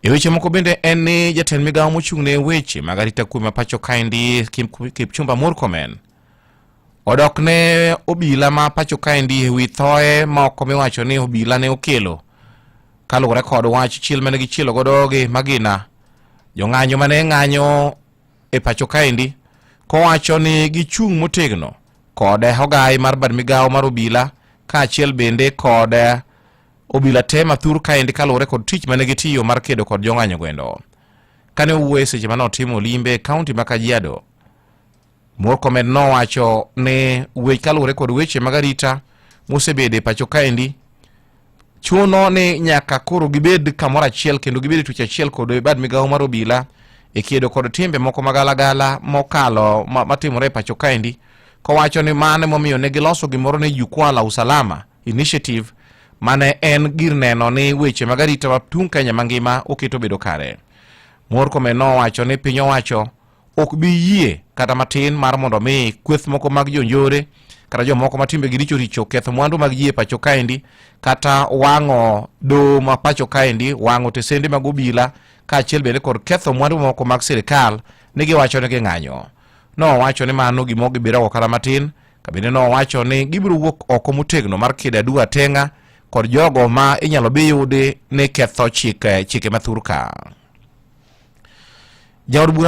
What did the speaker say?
E weche moko bende en ni jatend migawo mochung' ne weche mag arita kwe ma pacho kaendi Kipchumba Murkomen odok ne obila ma pacho kaendi e wi thoye moko miwacho ni obila ne okelo kaluwore kod wach chiel mane gichielo godo gi magina jong'anyo mane ng'anyo e pacho kaendi kowacho ni gichung' motegno kod ogai mar bad migawo mar obila kaachiel bende kod Obila te mathur kaendi kaluwore kod tich mane gitiyo mar kedo kod jong'anyo gwendo. Kane owuoye seche mane otimo limbe e kaunti ma Kajiado, Murkomen nowacho ne wech kaluwore kod weche mag arita mosebede pacho kaendi chuno ni nyaka koro gibed kamoro achiel kendo gibed e tuch achiel kod bad migawo mar obila e kedo kod timbe moko magalagala mokalo matimore e pacho kaendi kowacho ni mano emomiyo ne giloso gimoro ni jukwaa la usalama Initiative mane en gir neno ni weche mag arita ma tung' Kenya mangima oketo bedo kare. Murkomen nowacho ni piny owacho ok bi yie kata matin mar mondo mi kweth moko mag jonjore kata jomoko ma timbegi richo richo ketho mwandu mag ji e pacho kaendi kata wang'o doho ma pacho kaendi wang'o tesende mag obila kaachiel bende kod ketho mwandu moko mag sirikal ni giwacho ni ging'anyo. Nowacho ni mano gima ok gibirago kata matin Kabinde no wacho ni gibiro wuok oko motegno mar kida dua tenga kod jogo ma inyalo bi yudi ni ketho chike chike mathurka. Jaod bura